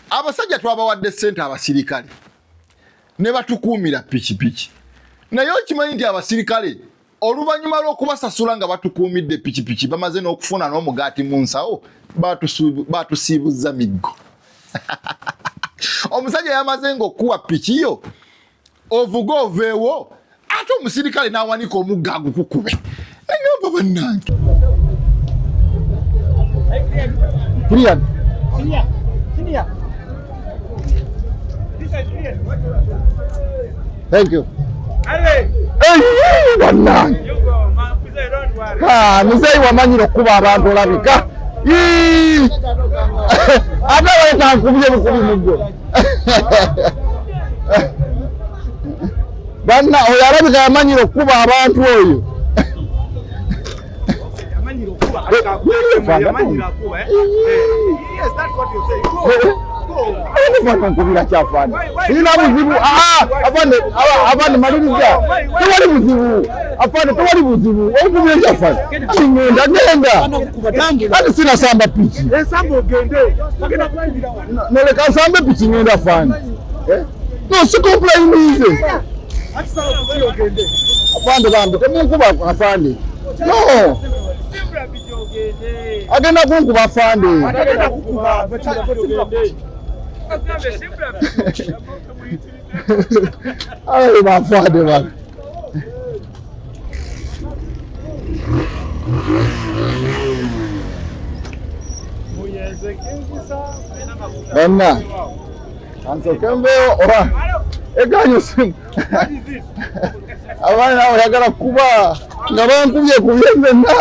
Abasajja twabawadde ssente abasirikale ne batukuumira pikipiki, naye okimanyi nti abasirikale oluvannyuma lw'okubasasula nga batukuumidde pikipiki bamaze n'okufuna n'omugaati mu nsawo baatusiibuzza miggo. Omusajja yamaze ng'okukuba piki yo ovuga oveewo ate omusirikale n'awanika omugga agukukube nagamba bannange bannange muzeeyi wamanyira okukuba abantu olabika ate weetankubye bukubi mugwe banna oyo alabika yamanyira okukuba abantu oyo nkubira kyafani ina buzibu afande maliriza tewali buzibu afande tewali buzibu okubira kyafani kingenda genda kati sinasamba piki noleka nsambe piki ngenda fani eh? no si complainize afande bambi temunkuba afande no agenda kunkuba afande awe bafande bambi Banna, kansoke mbeewo oba eganyo simu abaana awo yagala kuba nga bankubye kubye nzenna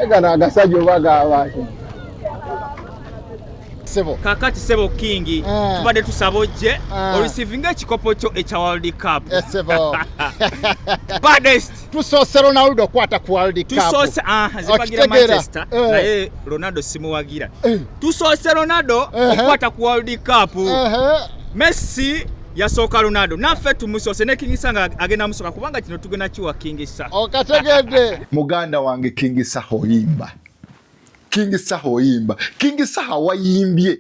egano agasajja oba gabaaki Sebo. Kakati Sebo King mm. tubadde tusaba ojje mm. orisivinga ekikopo kyo ekya World Cup. Yes, eh, Sebo. Baddest. Tusoose Ronaldo kwata ku World Cup. Tusoose ah zipagira Manchester eh. naye Ronaldo simuwagira. Eh. Tusoose Ronaldo eh. okwata ku World Cup. Eh. eh. Messi yasooka lunado naffe tumusoose ne kingisa nga agenda musoka kubanga kino tugenda kiwa kingisa okategedde muganda wange kingisa oyimba King Saha oyimba. King Saha wayimbye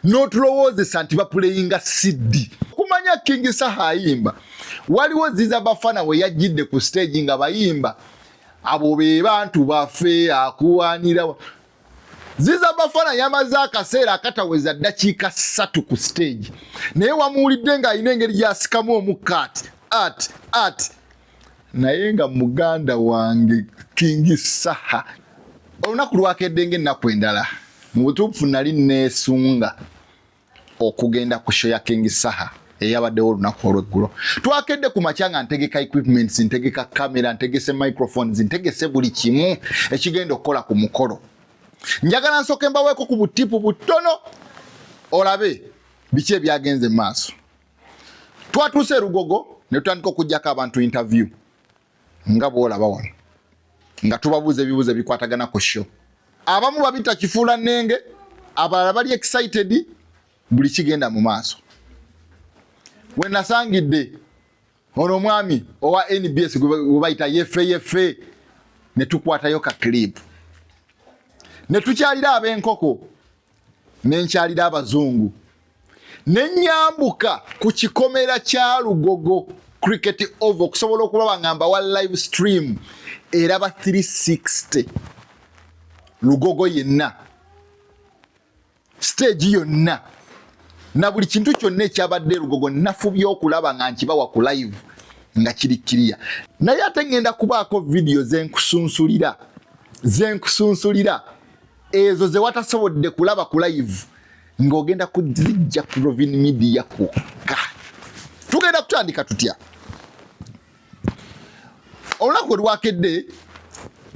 n'otulowoozesa nti bapuleyinga CD. Kumanya King Saha ayimba. Waliwo Ziza Bafana we yajjidde ku stage nga bayimba abo be bantu baffe akuwaanira Ziza Bafana yamaze akaseera akataweza ddakiika ssatu ku stage naye wamuwulidde ng'alina engeri gy'asikamu omukka ati ati ati naye nga muganda wange kingi saha olunaku lwakedde nga ennaku endala mu butuufu nali neesunga okugenda ku sho ya kingi saha eyabaddewo olunaku olweggulo twakedde ku makya nga ntegeka equipments ntegeka kamera ntegese microphones ntegese buli kimu ekigenda okukola ku mukolo njagala nsooke mbaweeko ku butipu butono olabe biki ebyagenze mu maaso Twatuuse e Lugogo ne tutandika okuggyako abantu interview nga bw'olaba wano nga tubabuuza ebibuuzo ebikwatagana ku sho. Abamu babita kifuula nnenge, abalala bali excited, buli kigenda mu maaso. We nasangidde ono omwami owa NBS gwe bayita yefe yefe ne tukwatayo ka clip ne tukyalira ab'enkoko ne nkyalira abazungu ne nyambuka ku kikomera kya lugogo cricket ov okusobola okulaba nga mbawa live stream eraba 360 lugogo yenna siteegi yonna na buli kintu kyonna ekyabadde lugogo nafubye okulaba nga nkibawa ku live nga kiri kiriya naye ate ŋŋenda kubaako vidiyo zenkusunsulira zenkusunsulira ezo zewatasobodde kulaba ku live ng'ogenda kuzijja ku Rovin Media kwokka. Tugenda kutandika tutya? Olunaku olwakedde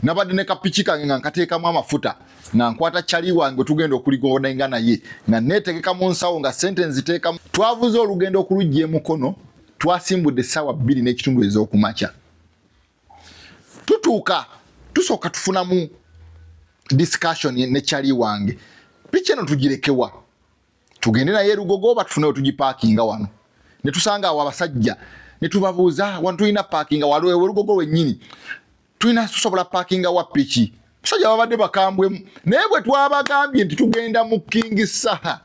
nabadde ne kapiki kange nga nkateekamu amafuta nga nkwata cali wange tugenda okuligondainga naye nga neetegeka mu nsawo nga sente nziteekamu. Twavuze olugendo okulujja e Mukono, twasimbudde essaawa bbiri n'ekitundu ez'okumakya. tutuuka tusooka tufunamu discussion ne chali wange piki eno tugirekewa tugende naye erugogo oba tufunewo tugipakinga wano ne tusanga awo abasajja ne tubabuuza wano tulina pakinga waliwo erugogo wenyini tulina tusobola pakinga wa piki Basajja babadde bakambwemu naye bwe twabagambye nti tugenda mu King Saha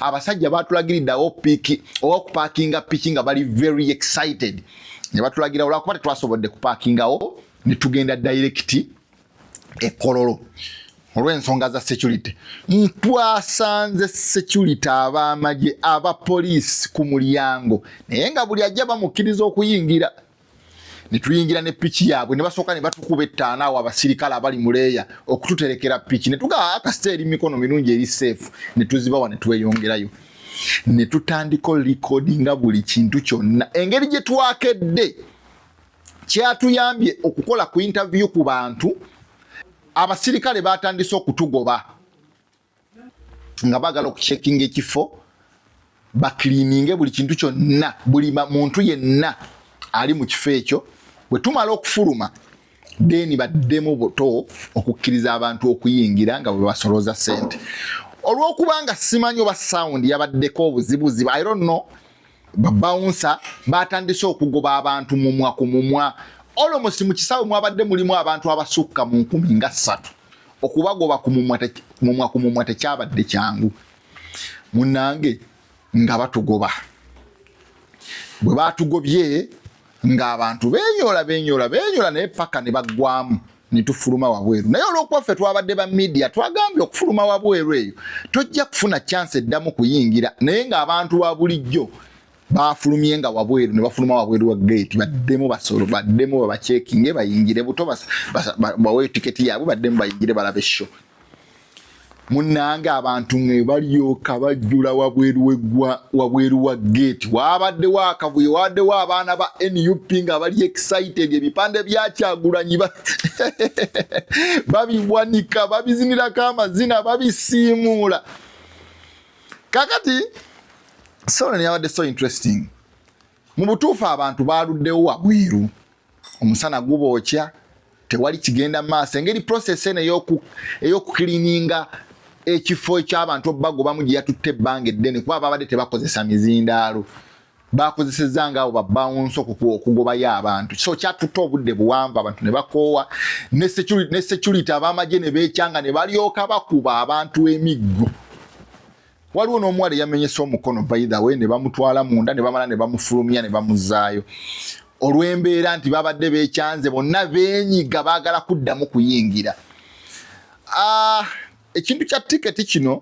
abasajja batulagiridde awo piki oba kupakinga piki nga bali very excited ne batulagira olwakuba tetwasobodde kupakingawo ne tugenda dayirekiti ekololo olw'ensonga za security ntwasanze security ab'amagye abapoliisi ku mulyango naye nga buli ajja bamukkiriza okuyingira ne tuyingira ne piki yaabwe ne basooka ne batukuba ettaana awo abasirikale abali mu leeya okututerekera piki ne tugaa ah, kasita eri mikono mirungi eri seefu ne tuzibawa ne tweyongerayo ne tutandika likodi nga buli kintu kyonna engeri gye twakedde kyatuyambye okukola ku intaviyu ku bantu abasirikale batandise okutugoba nga bagala okucekinga ekifo bakilininge buli kintu kyonna buli muntu yenna ali mu kifo ekyo bwe tumala okufuluma deni baddemu buto okukkiriza abantu okuyingira nga bwe basolooza sente olwokubanga simanyi oba sound yabaddeko obuzibuzibu i don't know babawunsa batandise okugoba abantu mumwa ku mumwa olomosi mu kisaawe mwabadde mulimu abantu abasukka mu nkumi nga ssatu okubagoba ku mumwa ku mumwa tekyabadde kyangu munange nga batugoba bwe batugobye ng'abantu benyola benyola benyola naye paka ne baggwamu netufuluma wabweru naye olwokuba ffe twabadde ba midia twagambye okufuluma wabweru eyo tojja kufuna chance eddamu kuyingira naye ng'abantu ba bulijjo bafulumye nga wabweru ne bafuluma wabweru wa gate baddemu basolo baddemu babacekinge bayingire buto bawe tiketi yaabwe baddemu bayingire balabe sho munange abantu nge balyoka bajjula wabweru wegwa wabweru wa gate wabaddewo akavuyo wabaddewo abaana ba nup nga bali excited ebipande byakyagulanyi babiwanika babizinirako amazina babisiimuula kakati solo neyabadde so interesting mu butuufu abantu baaluddewo wabweru omusana gubookya tewali kigenda maaso engeri process eno eyokukilininga ekifo ekyabantu obagobamu gyeyatutte ebbanga eddene kuba babadde tebakozesa mizindaalo bakozesezza nga abo babawunso okugobayo abantu so kyatutte obudde buwanvu abantu ne bakoowa ne security abamagye ne beekyanga ne balyoka bakuba abantu emiggo waliwo n'omuwala eyamenyesa omukono baithawe ne bamutwala munda ne bamala ne bamufulumya ne bamuzaayo olw'embeera nti babadde beekyanze bonna beenyiga baagala kuddamu kuyingira ah, ekintu kya tiketi kino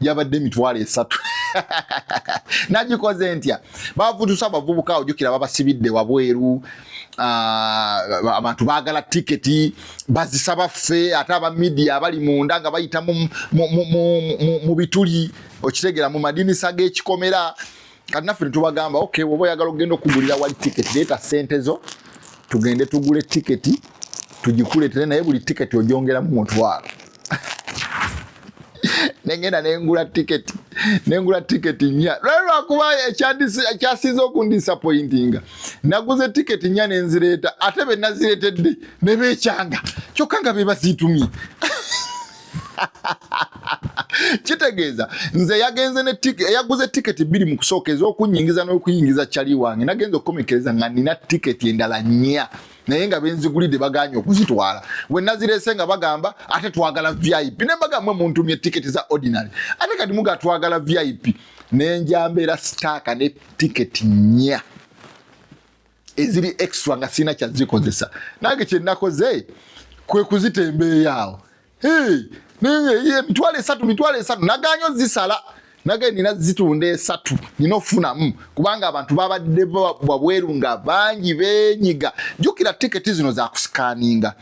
yabadde emitwalo esatu nagikoze ntya bavutusa abavubuka ojukira babasibidde wabweru ah, abantu bagala tiketi bazisaba ffe ate aba midia abali munda nga bayita mu bituli okitegera mu madinisa g'ekikomera kati naffe netubagamba ok woba oyagala okugenda okugulira wali tiketi leeta sente zo tugende tugule tiketi tugikuletere naye buli tiketi ojongeramu mutwalo nengenda nengula tiketi nengula tiketi nya lwali lwakuba ekyasinza okundisapointinga naguze tiketi nya nenzireeta ate benaziretedde nebekyanga kyokka nga bebaziitumye kitegeeza nze yagenze yaguze tiketi bbiri mu kusooka ez'okunyingiza n'okuyingiza cali wange nagenza okukomekereza nga nina tiketi endala nnya naye nga benzigulidde baganye okuzitwala wenazirese nga bagamba ate twagala vip nembaga mwe muntumye tiketi za ordinary ate kati muga twagala vip nenjambeera sitaaka ne tiketi nnya eziri extra nga sirina kyazikozesa nange kyenakoze kwe kuzitembeeyo awo emitwalo esatu mitwalo esatu naganyo zisala nage nina zitunda esatu nina ofunamu kubanga abantu babadde wabweru nga bangi benyiga jukira tiketi zino zakusikaninga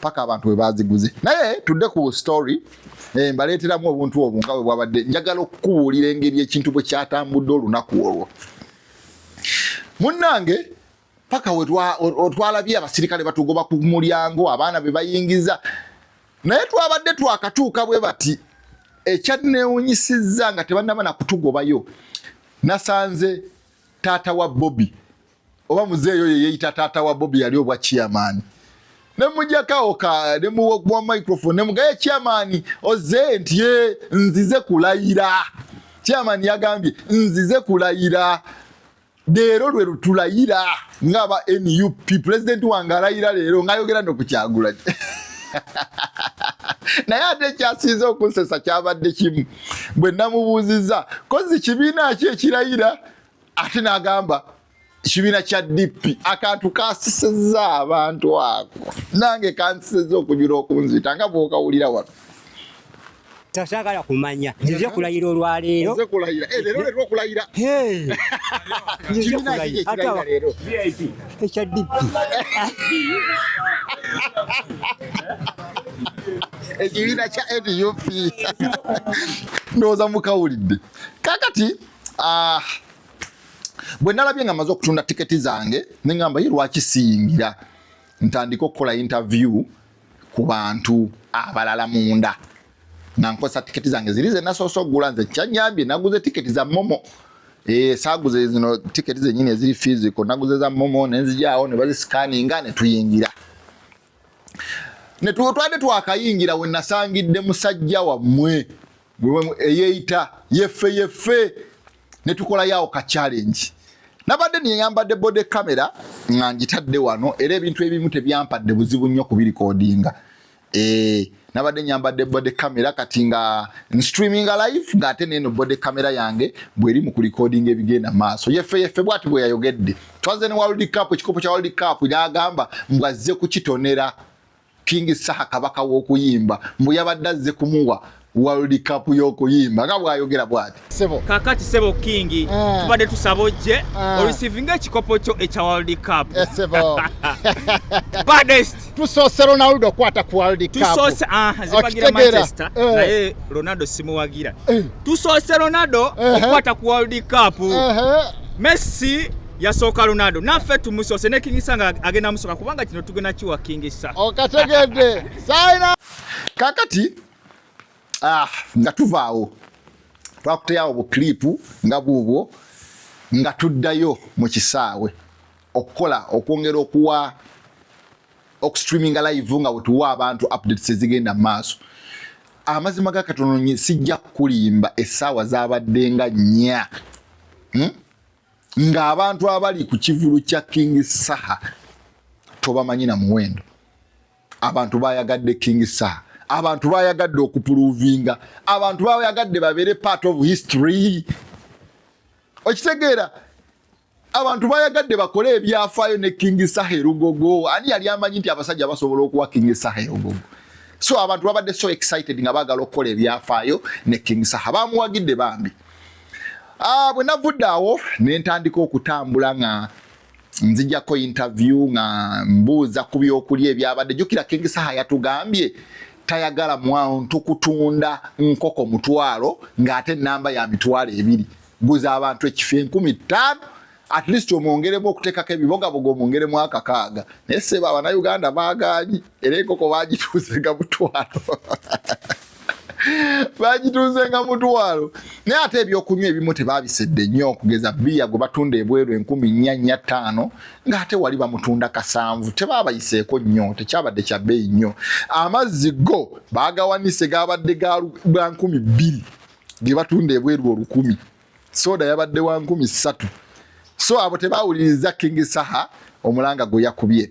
paka abantu bwe baziguze naye tudde ku story eh, mbaleeteramu obuntu obwo nga bwe bwabadde njagala okukubuulira engeri ekintu bwe kyatambudde olunaku olwo munnange paka wetwalabye abasirikale batugoba ku mulyango abaana be bayingiza naye twabadde twakatuuka bwe bati ekyanneewunyisizza nga tebannaba na kutugobayo nasanze taata wa bobi oba muzeeyi oyo yeeyita taata wa bobi yali obwa chairman nemujakaoka nemuwa microphone nemugaye chairman oze nti ye nzize kulayira chairman yagambye nzize kulayira leero lwe lutulayira ngaaba nup president wange alayira leero ngayogera nokukyagula naye ate ekyasinze okunsesa kyabadde kimu bwe namubuuzizza kozi kibiina ki ekirayira ate nagamba kibiina kya DP akantu kasiseza abantu ako nange kansiseza okujula okunzita nga bwokawulira wano tasagala kumanya nzize kulayira olwaleero eh, ekya DP ekibiina kya nup ndowooza mukawulidde kakati Ah, bwe nalabye nga maze okutunda tiketi zange ne ngamba ye lwaki siyingira ntandika okukola interview ku bantu abalala munda nga nkozesa tiketi zange ziri ze nasoose okugula nze kyanyambye naguze tiketi za momo eh, saaguze zino tiketi zenyini eziri physical naguze za momo nenzijawo ne bazisikaninga ne tuyingira ne twade twakayingira we nasangidde musajja wammwe eyeyita yeffe yeffe netukolayo awo ka challenge nabadde neyambadde bode camera nga ngitadde wano era ebintu ebimu tebyampadde buzibu nnyo kubirikodinga e, nabadde nyambadde bode camera kati nga nstreaming live nga ate neno bode camera yange bweri mu kurikodinga ebigenda maaso yeffe yeffe bwati bwe yayogedde twaze ne world cup ekikopo kya world cup nagamba mbwazze kukitonera King Saha kabaka w'okuyimba mbu yabadde azze kumuwa World Cup y'okuyimba nga bw'ayogera bw'ati. Sebo. Kakati sebo King mm. tubadde tusaba ojje mm. Eh. orisivinga ekikopo kyo ekya World Cup. Eh, sebo. Baddest. Tusoose Ronaldo kwata ku World Cup. Tusoose ah zibagira Manchester eh. naye Ronaldo simuwagira. Eh. Tusoose Ronaldo eh. okwata ku World Cup. Eh. Messi yasooka Ronaldo naffe tumusoose ne King Saha nga agenda musooka kubanga kino tugenda kiwa King Saha. Okategedde saina kakati ah, nga tuvaawo twakuteyawo bu clip nga bwobwo nga tuddayo mu kisaawe okukola okwongera okuwa okustreaminga live nga wetuwa abantu updates ezigenda mu maaso amazima ga katononye sijja kukulimba essaawa zabaddenga nnya hmm? ng'abantu abali ku kivulu kya King Saha tobamanyi na muwendo. Abantu bayagadde King Saha, abantu bayagadde okupuluvinga, abantu bayagadde babeere part of history. Okitegeera, abantu bayagadde bakole ebyafaayo ne King Saha erugogo. Ani yali amanyi nti abasajja basobola okuwa King Saha erugogo? So abantu babadde so excited nga baagala okukola ebyafaayo ne King Saha, bamuwagidde bambi. Ah, bwe navudde awo ne ntandika okutambula nga nzijako interview nga mbuuza ku byokulya ebyabadde jukira King Saha yatugambye tayagala mwantu kutunda nkoko mutwalo ng'ate namba ya mitwalo ebiri guza abantu ekifi enkumi ttaano at least omwongeremu okutekako ebibogaboga omwongeremu akakaaga naye seba abanauganda bagaanyi era enkoko bagituuzenga mutwalo bagituuzenga mutwalo naye ate ebyokunywa ebimu tebabisedde nnyo okugeza biya gwe batunda ebweru enkumi nnya nnya ttaano ng'ate wali bamutunda kasanvu tebabayiseeko nnyo tekyabadde kya bbeeyi nnyo amazzi go bagawanise gabadde ga nkumi bbiri ge batunda ebweru olukumi soda yabadde wa nkumi ssatu so abo tebawuliriza king saha omulanga gwe yakubye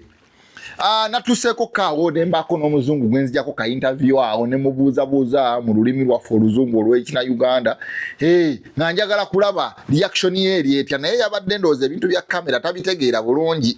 ah, natuseeko kaawo ne mbaako n'omuzungu gwe nzijako ka interview awo ne mubuuzabuuza mu lulimi lwaffe oluzungu olw'ekina uganda hey, nga njagala kulaba reaction ye eri etya naye yabadde ndowooza ebintu bya kamera tabitegeera bulungi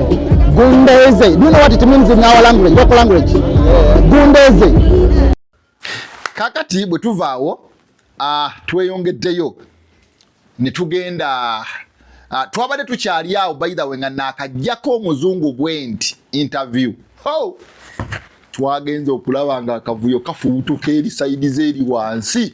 Gundeze. Do you know what it means in our language? Local language. Gundeze. Kakati bwe tuvaawo uh, tweyongeddeyo ne tugenda uh, twabadde tukyali awo by the way nga naakajjako omuzungu bwenti interview oh! twagenze okulaba nga akavuyo kafubutuka eri saidi ze eri wansi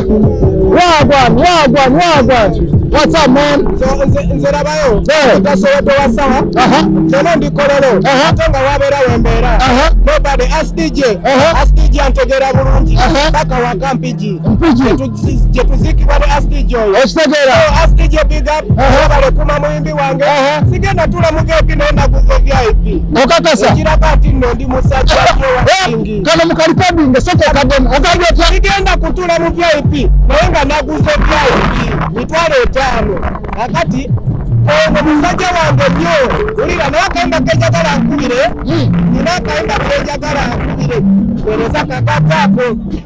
Wagwan, wagwan, wagwan. What's up, man? Nze labayo. Nze soweto wa sawa. Aha. Kyono ndi kololo. Aha. Tonga wabera wembera. Aha. Nobody ask DJ. Aha. Ask DJ antegera bulungi. Aha. Paka wa kampiji. Mpiji. Jetuziki wale ask DJ. Estegera. Ask DJ big up. Aha. Wabale kuma muimbi. wange sigenda tula mu vip naye naguze vip okakasa okiraba nti nno ndi musajja eh, kano mukalipabinge soka okademu okadi otya sigenda kutula mu vip naye nga naguze vip mitwalo etaano akati ono musajja wange nnyo wulira naye akayimba kenjagala nkubire hmm. nina akayimba kenjagala nkubire wereza kakataako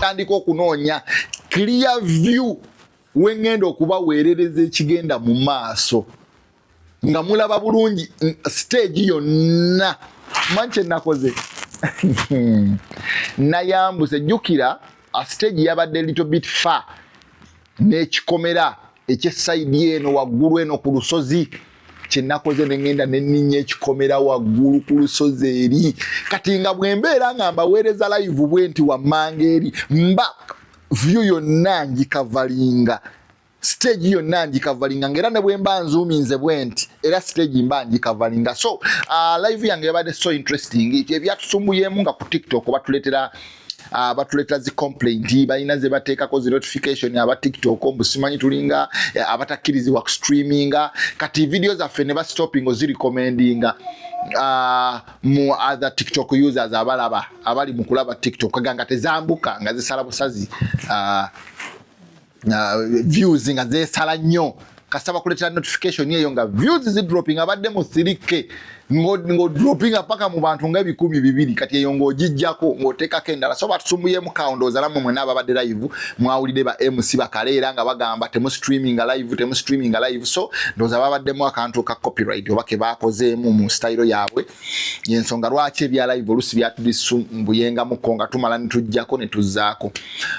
tandika okunoonya clear view wengenda okubaweerereza ekigenda mu maaso nga mulaba bulungi stage yonna manyi kyenakoze nayambuse jukira stage yabadde little bit far n'ekikomera ekyesayidi eno waggulu eno ku lusozi kyenakoze nengenda neninya ekikomera waggulu ku lusozi eri kati nga bwembeera nga mbaweereza layivu bwe nti wammanga eri mba vyu yonna ngikavalinga stage yonna ngikavalinga nga era ne bwe mba nzuuminze bwe nti era stage mba ngikavalinga so uh, live yange yabadde so interesting ebyatusumbuyeemu nga ku tiktok batuleetera uh, batuleeta zi complaint balina ze bateekako zi notification aba tiktok mbu simanyi tulinga eh, abatakkirizibwa ku streaminga kati video zaffe ne bastoping ozirecommendinga uh, mu other tiktok users abalaba abali mu kulaba tiktok ganga tezambuka nga zisala busazi uh, na views nga zesala nnyo kasaba kuletera notification eyo nga views zi dropping abadde mu 3k ngo ngo dropping apaka mu bantu nga bikumi bibiri kati eyo ngo jijjako ngo teka kendala so batusumbuye mu count ozala mu mwena ababadde live mwawulide ba MC bakalera nga bagamba temu streaming live temu streaming live so ndoza babadde mu akantu ka copyright obake bakoze mu mu style yabwe yensonga lwaki ebya live olusi byatulisumbuyengamuko nga tumala netujjako netuzaako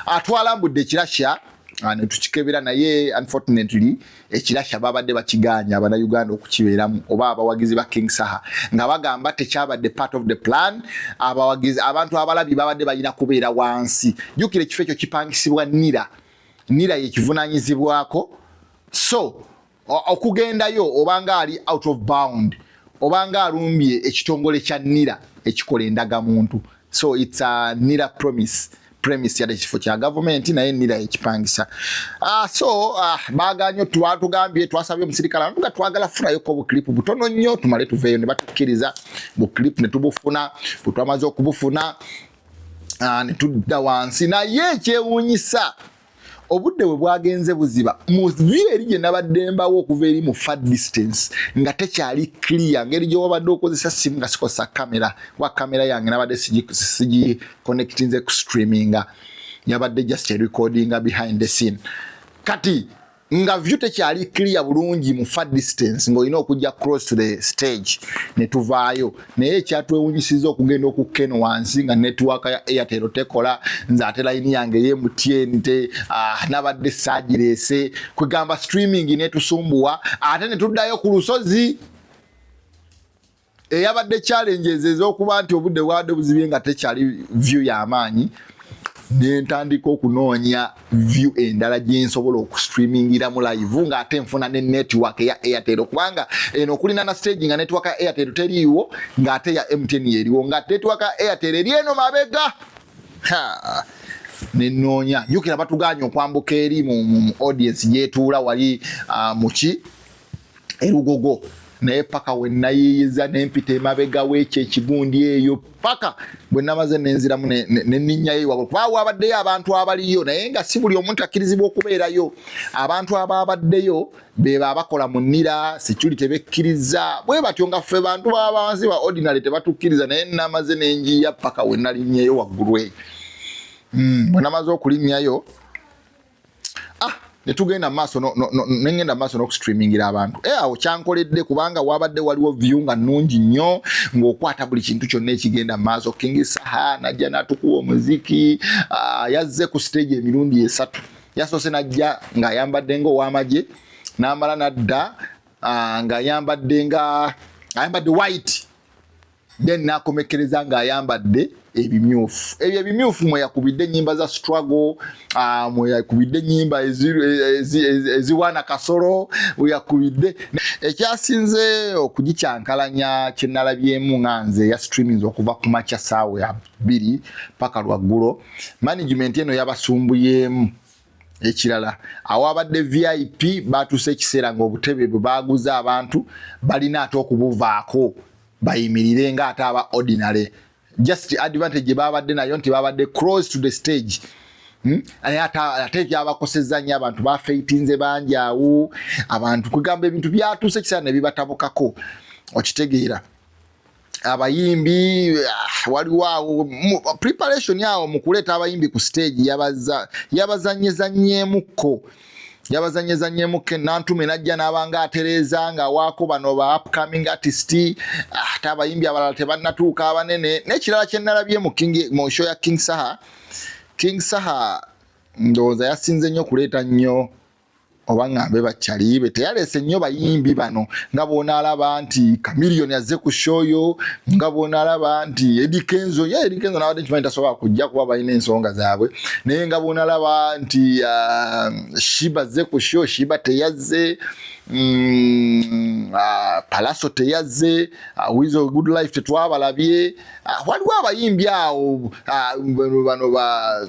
atwala mbudde ekirasha ah, netukikebera naye unfortunately ekirasha babadde bakiganya abana uganda okukibeeramu oba abawagizi ba king saha nga bagamba tekyabadde part of the plan abawagizi abantu abalabi babadde balina kubeera wansi jukira ekifo ekyo kipangisibwa nira nira yekivunanyizibwako so okugendayo obanga ali out of bound obanga alumbye ekitongole kya nira ekikola endaga muntu so its a nira promise premise yadde ekifo kya gavumenti naye nira ekipangisa ah, so ah, baganyo twatugambye twasabye omusirikale nga twagala fulayoko buklipu butono nnyo tumale tuveeyo ne batukkiriza buklipu ne tubufuna bwe twamaze okubufuna ah, ne tudda wansi naye ekyewuunyisa obudde bwe bwagenze buziba mu view eri gye nabadde mbawo okuva eri mu far distance nga tekyali clear ngeri gye wabadde okozesa simu nga sikozesa kamera kuba kamera yange nabadde sigi connectinze ku streaminga yabadde just recordinga behind the scene kati nga view tekyali clear bulungi mu far distance ng'olina okujja cross to the stage ne tuvaayo naye ekyatwewunyisiza okugenda okukkeno wansi nga network ya airtel tekola nze ate layini yange ye mutn te ah, nabadde saagireese kwegamba streaming netusumbuwa ate ne tuddayo ku lusozi eyabadde challenges ez'okuba nti obudde bwabadde buzibye nga tekyali view y'amaanyi nentandika okunoonya view endala gyensobola okustreamingira mu live nga ate nfuna ne network eya airtel kubanga eno okulina na stage nga network ya airtel teriiwo nga ate ya mtn yeriwo nga network ya airtel eri eno mabega nenoonya jukira batuganya okwambuka eri mu audience gyetuula wali ah, muki erugogo naye paka wenayiyiza nempita emabega wekyo ekigundi eyo paka bwenamaze nenziramu neninyayo wabwe kuba wabaddeyo abantu abaliyo naye nga si buli omuntu akkirizibwa okubeerayo abantu ababaddeyo beba abakola mu nira security tebekkiriza bwe batyo nga ffe bantu babansi ba ordinary tebatukkiriza naye namaze nenjiya paka wenalinyeyo waggulu eyo hmm, bwenamaze okulinyayo ah netugenda maaso nengenda maaso n'okustreamingira abantu eh, awo kyankoledde kubanga wabadde waliwo view nga nungi nnyo ng'okwata buli kintu kyonna ekigenda maaso king saha najja natukuwa omuziki ah, yazze ku stage emirundi esatu yasoose najja ng'ayambadde ngaowamagye n'amala nadda ah, ng'ayambadde nga ayambadde white then nakomekkereza ng'ayambadde ebimyufu ebyo ebimyufu mweyakubidde enyimba za struggle ah, mweyakubidde enyimba eziwaana kasolo weyakubidde ekyasinze okugikyankalanya kyenalabyemu nga nze ya streamings okuva ku makya saawa ya bbiri paka lwaggulo management eno yabasumbuyeemu ekirala awabadde vip batuuse ekiseera ngaobutebe bwe baguza abantu balina ate okubuvaako bayimirire nga ate aba ordinary just advantage gye baabadde nayo nti baabadde cross to the stage hmm? naye ate byabakosezza nnyo abantu bafeitinze bangi awo abantu kwegamba ebintu byatuuse ekiseera ne bibatabukako okitegeera abayimbi ah, waliwo awo preparation awo mu kuleeta abayimbi ku stage yabazanyezanyemukko yabazanyezanyemu kenantume najja nabanga atereeza nga waako bano ba upcoming artist ah, ate abayimbi abalala tebannatuuka abanene nekirala kyenalabye mu show ya king saha king saha ndowooza yasinze nnyo kuleeta nnyo oba ngambe bakyalibe teyalese nnyo bayimbi bano nga bwonaalaba nti kamilion azze ku shoyo nga bwonaalaba nti edikenzo ye edikenzo nabadde nkimanyi tasobola kujja kuba balina ensonga zaabwe naye nga bwonalaba nti uh, shiba zze ku sho shiba teyazze Mm, ah, palaso teyazze ah, wizo good life tetwabalabye ah, waliwo abayimbi awo bano ba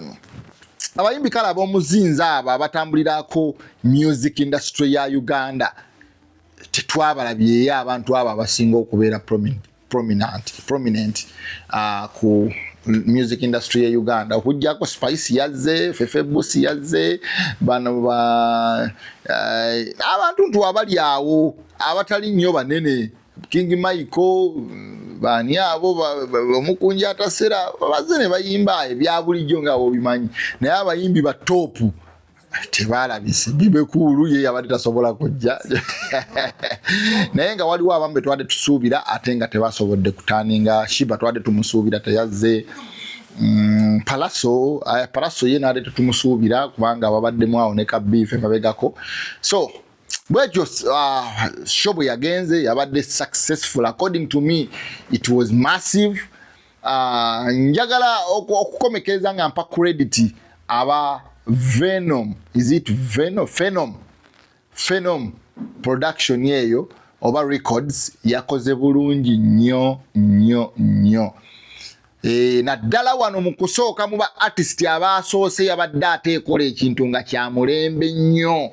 abayimbi kale abomuzinzi abo abatambulirako music industry ya uganda tetwabalabyeye abantu abo abasinga okubeera prominent prominent, prominent uh, ku music industry ya Uganda okujjako Spice yazze Fefe Busi yazze bano ba uh, abantu ntu abali awo abatali nnyo banene King Michael bani abo omukunja atasera bazze ne bayimba ebya bulijjo nga obimanyi naye abayimbi ba topu tebalabise bibekuulu ye yabadde tasobola kujja naye nga waliwo abamu betwade tusuubira ate nga tebasobodde kutaninga shiba twade tumusuubira teyazze mm, palaso eh, palaso ye nade tetumusuubira kubanga babaddemu awo ne kabiife mabegako so bwekyo uh, show bwe yagenze yabadde successful according to me it was massive Uh, njagala okukomekereza nga mpa credit aba venom is it venom phenom phenom production yeyo oba records yakoze bulungi nnyo nnyo nnyo e, naddala wano mu kusooka mu ba artist abaasoose yabadde ateekola ekintu nga kya mulembe nnyo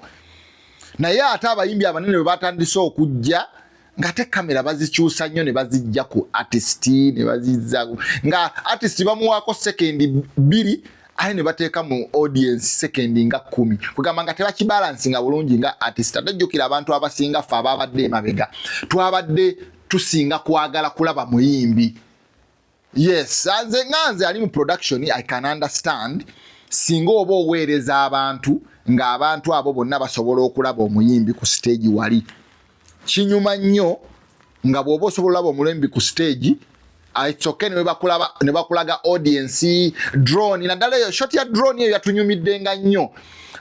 naye ate abayimbi abanene bwe batandise okujja ngate kamera bazikyusa nnyo ne bazijja ku artist ne bazizza nga artist bamuwaako sekendi bbiri aye ne bateeka mu audience sekendi nga kkumi kugamba nga tebakibalansi nga bulungi nga artist ate jjukira abantu abasinga ffe ababadde emabega twabadde tusinga kwagala kulaba muyimbi Yes, nze nga nze ali mu production I can understand singa oba oweereza abantu ng'abantu abo bonna basobola okulaba omuyimbi ku siteegi wali kinyuma nnyo nga bw'oba osobola olaba omulembi ku siteegi itsoke ne bakulaga audiensi drone naddala eyo shot ya drone eyo yatunyumidde nga nnyo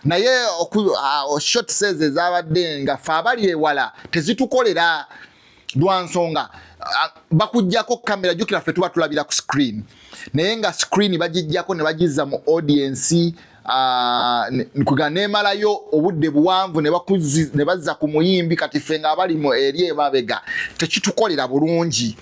naye ah, shot says ezabadde nga fe abali ewala tezitukolera lwa nsonga bakujjako kamera jukira ffe tuba tulabira ku screen naye nga screen bagijjako ne bagizza mu audiensi kuga nemalayo obudde buwanvu ne bazza ku muyimbi kati ffe nga abali mu eri emabega tekitukolera bulungi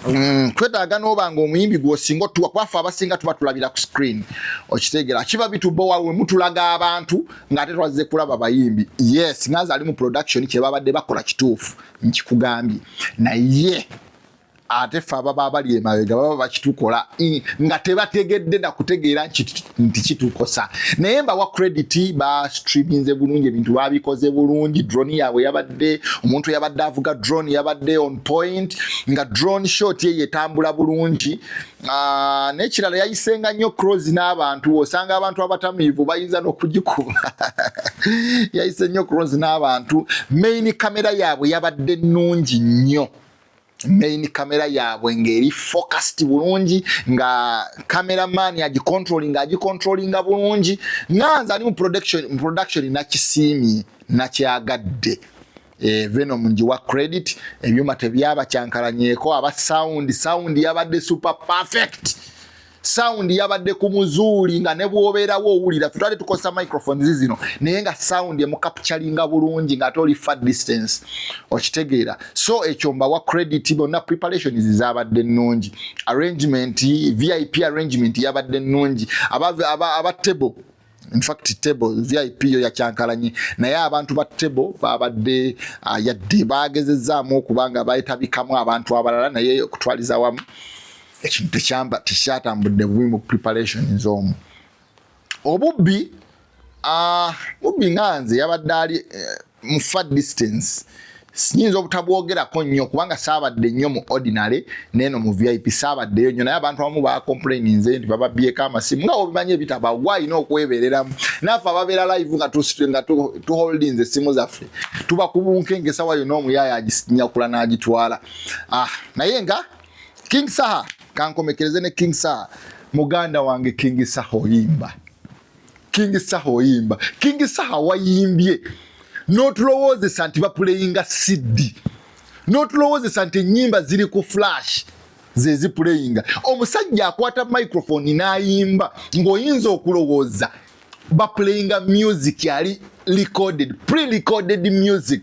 Mm, twetaaga n'oba nga omuyimbi gwosinga otuwa kwafe abasinga tuba tulabira ku screen okitegera kiba bitubowa we mutulaga abantu ng'ate twazze kulaba bayimbi yes ngaze ali mu production kye babadde bakola kituufu nkikugambye naye ate fe ababa abali emabega baba bakitukola nga tebategedde nakutegeera nti kitukosa naye mbawa credit ba streaminze bulungi ebintu babikoze bulungi drone yaabwe yabadde yabadde omuntu yabadde avuga drone yabadde on point nga drone shot ye yetambula bulungi ah, nekirala yayisenga nnyo cross n'abantu osanga abantu abatamiivu bayinza n'okugikuba yayise nnyo cross n'abantu main kamera yaabwe yabadde nnungi nnyo main kamera yaabwe ng'eri focused bulungi nga kamera maani agicontrolinga agicontrolinga bulungi nga nze ali mu production nakisiimye nakyagadde eh, venom njiwa credit ebyuma tebyabakyankalanyeko aba sound sound yabadde super perfect sound yabadde ku muzuuli nga ne bwobeerawo owulira tutwali tukozesa microphones zino naye nga sound emukapcalinga bulungi nga ate oli far distance okitegeera so ekyo mbawa credit bonna preparations zabadde nnungi arrangement vip arrangement yabadde nnungi aba, aba, aba table in fact table vip yo yakyankalanye naye abantu ba table babadde uh, yadde bagezezaamu okuba nga bayetabikamu abantu abalala naye okutwaliza wamu ekintu tekyamba tekyatambudde bubi mu preparation zoomu obubbi uh, bubbi nga nze yabadde ali uh, mu far distance sinyinza obutabwogerako nnyo kubanga saabadde nnyo mu ordinary neeno mu vip saabaddeyo nnyo naye abantu abamu bacomplaininze nti bababyeko amasimu nga obimanyi ebitaba wa alina okwebereramu naffe ababeera live nga nga tuholdings essimu zaffe tuba kubunkenga esawa yona omuyaaya agisinyakula n'agitwala ah, naye nga king saha kankomekereze ne king saha muganda wange king saha oyimba King Saha oyimba. King Saha wayimbye n'otulowoozesa nti bapuleyinga CD, n'otulowoozesa nti ennyimba ziri ku flash ze zipuleyinga. Omusajja akwata microphone n'ayimba ng'oyinza okulowooza bapuleyinga music yali recorded, pre-recorded music.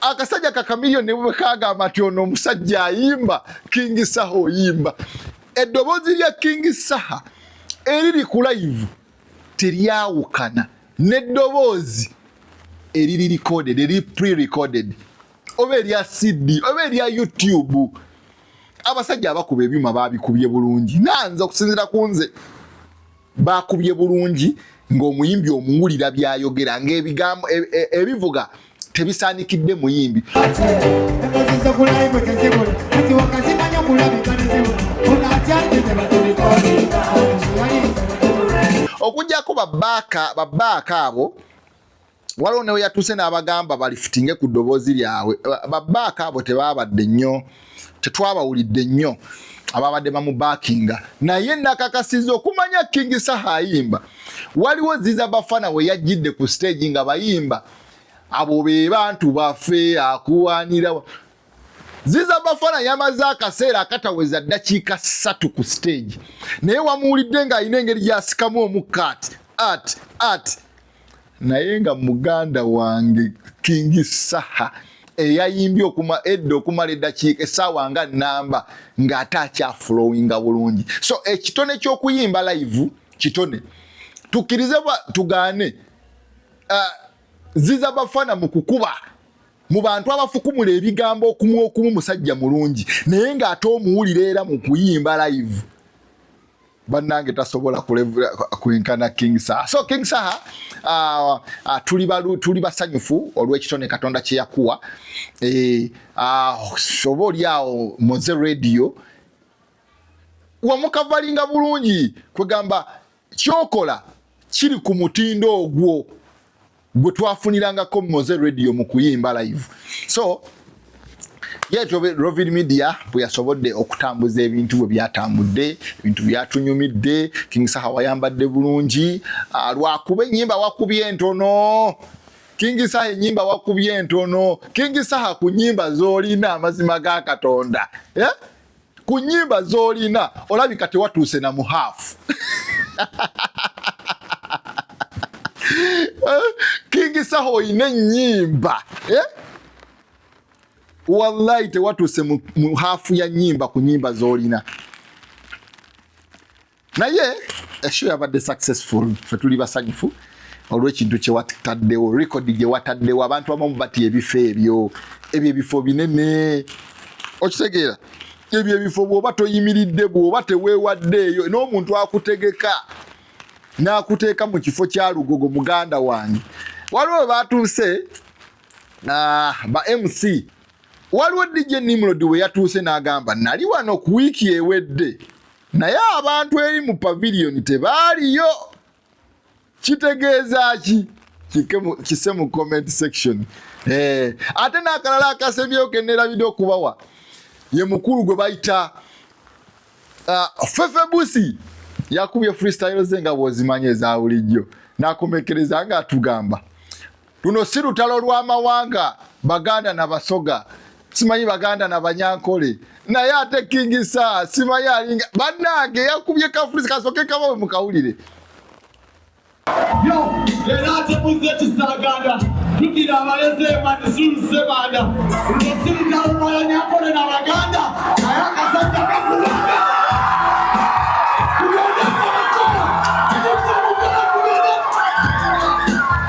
Akasajja kakamiliyoni ne bwe kagamba nti ono omusajja ayimba, King Saha oyimba. eddoboozi lya kingi saha eriri ku layivu teryawukana n'eddoboozi eriri recorded eriri pre-recorded oba erya cd oba erya youtube abasajja abakuba ebyuma babikubye bulungi nanze okusinzira ku nze baakubye bulungi ng'omuyimbi omuwulira byayogera ng'ebigambo e, e, ebivuga tebisaanikidde muyimbi okujjako babaaka babaaka abo waliwo newe yatuuse n'abagamba balifitinge ku ddoboozi lyabwe babaaka abo tebaabadde nnyo tetwabawulidde nnyo ababadde bamubakinga naye nakakasiza okumanya king saha ayimba waliwo ziza bafana we yajjidde ku stage nga bayimba abo be bantu baffe akuwanira ziza bafana yamaze akaseera akataweza ddakiika ssatu ku stage naye wamuwulidde ng'alina engeri gyasikamu omukka ati ati ati naye nga muganda wange kingi saha eyayimbye okuma edda okumala eddakiika esaawa nga namba ng'ate akyafulowinga bulungi so ekitone ky'okuyimba live kitone tukkirize bwa tugaane uh, ziza bafana mu kukuba mu bantu abafukumula ebigambo okumu okumu musajja mulungi naye ng'ate omuwulira era mu kuyimba live bannange tasobola kulevula kwenkana king saha so king saha uh, uh, tuli, balu, tuli basanyufu olw'ekitone katonda kye yakuwa e, uh, soba oli awo moze radio wamukavalinga bulungi kwegamba kyokola kiri ku mutindo ogwo gwe twafunirangako moze radio mu kuyimba live so yetyo rovin media bwe yasobodde okutambuza ebintu bwe byatambudde ebintu byatunyumidde king saha wayambadde bulungi ah, lwakuba enyimba wakubye entono king saha enyimba wakubye entono king saha ku nyimba zolina amazima ga katonda yeah? ku nyimba zolina olabika tewatuuse na muhaafu eh, King Saha olina ennyimba eh? Wallahi tewatuuse mu haafu ya nyimba ku nyimba zolina. naye esho eh, yabadde successful fe tuli basanyufu olwekintu kyewataddewo record gyewataddewo abantu abamu batya ebifo ebyo ebyo ebifo binene okitegeera ebyo ebifo bwoba toyimiridde bwoba teweewaddeeyo n'omuntu akutegeka n'akuteeka mu kifo kya lugogo muganda wange waliwo batuuse ah, ba mc waliwo dj nimrod we yatuuse n'agamba nali wano ku wiiki ewedde Naye abantu eri mu paviliyoni tebaaliyo. Kitegeeza ki? kise mu comment section eh, ate nakalala akasemyewo kenerabide okubawa ye mukulu gwe bayita uh, fefe busi yakubye freestyle ze nga bwozimanyi ezabulijjo nakomekereza nga atugamba Luno si lutalo lwa mawanga Baganda na Basoga, simanyi Baganda na Banyankole, naye ate King Saha simanyi alinga bannange yakubye kafulisi kasooke kabawe mukawulire. Yo era ate muzze ekisaganda tugira abalezi emadisulu sebanda luno si lutalo lwa Banyankole na Baganda naye akasajja kakubanga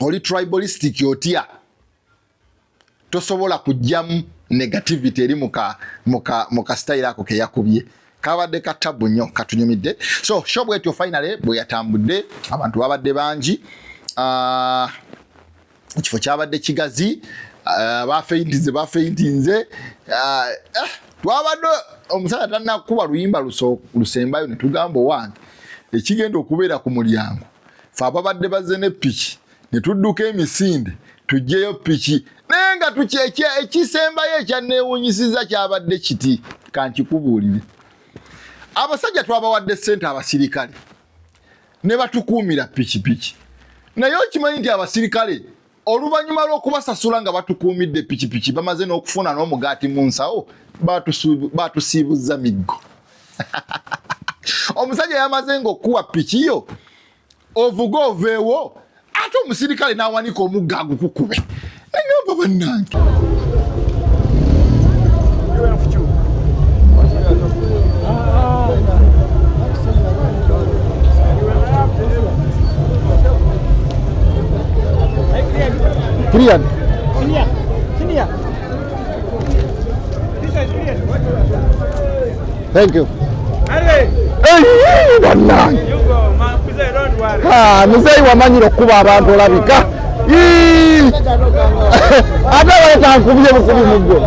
oli tribalistic otya tosobola kujjamu negativity eri muka muka muka style ako keyakubye kabadde ka tabu nnyo katunyumidde so sho bwetyo finally bweyatambudde abantu babadde bangi ah, ekifo uh, kyabadde kigazi uh, bafeintinze bafeintinze uh, eh, twabadde omusajja tanakuba luyimba lusembayo netugamba owange ekigenda okubeera ku mulyango fe ababadde bazze ne piki ne tudduka emisinde tujjeyo piki naye nga tukyekya ekisembayo ekyanneewunyisiza kyabadde kiti kankikubuulire abasajja twabawadde ssente abasirikale ne batukuumira pikipiki naye okimanyi nti abasirikale oluvannyuma lw'okubasasula nga batukuumidde pikipiki bamaze n'okufuna n'omugaati mu nsawo baatusiibuzza miggo omusajja yamaze ng'okukuwa piki yo ovuga oveewo ate omusirikale n'awanika omugga agukukube nagamba bannange Clear. Clear. Clear. This is clear. Thank you. Hey, bannange. You go, man. Mzee, don't worry. Ha, mzee wamanyira okukuba abantu olabika. Ate waleeta nkubye bukubi muggo.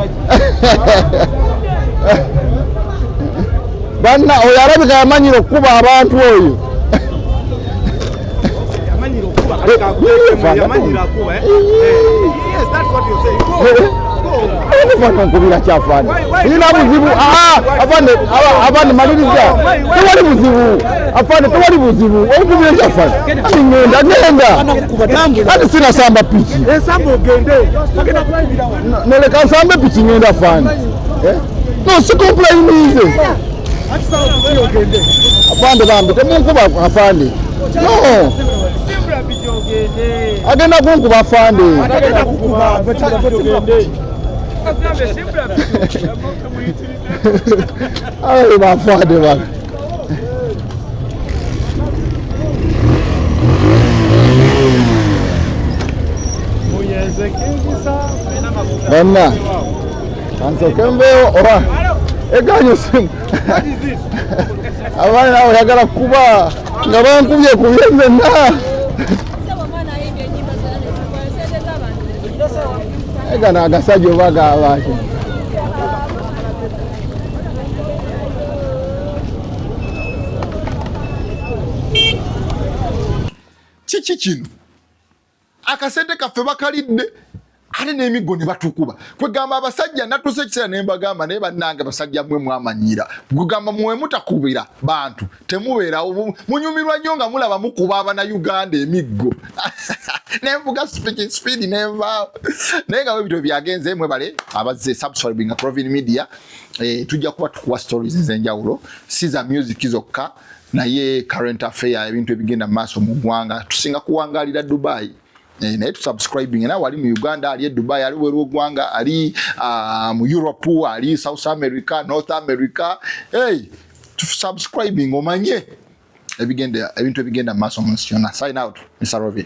Banna oyo alabika yamanyira okukuba abantu oyo. nkubira kyafani ina buzibu afande maliriza tewali buzibu afande tewali buzibu onkubira kyafani ati ngenda ngenda ati sinasamba piki noleka nsambe piki ngenda afande eh? no sikompulayinize afande bambi temunkuba afande no agenda kunkuba afande awe bafande bana banna ansoke mbeewo oba egaanyi osimu abaana nawe oyagala kuba nga bankubye kubye nzenna egana agasajja oba gabaaki kiki kino akasente kaffe bakalidde ate n'emiggo ne batukuba kwegamba abasajja natuusa ekiseera ne mbagamba naye bannange basajja mwe mwamanyira kwegamba mwe mutakubira bantu temubeerawo munyumirwa nnyo nga mulaba mukuba abana uganda emiggo nenvuga speaking speed nenva naye nga webityo byagenze mwebale abazze subscribing Provin Media eh, tujja kuba tukuwa stories ezenjawulo si za music zokka naye current affair ebintu ebigenda maaso mu ggwanga tusinga kuwangalira dubai eh, naye tusubscribing nawe ali mu uganda ali e dubai ali weru ogwanga ali uh, mu europe ali south america north america hey, tusubscribing omanye ebigenda ebintu ebigenda maaso mu nsi yona sign out mr robin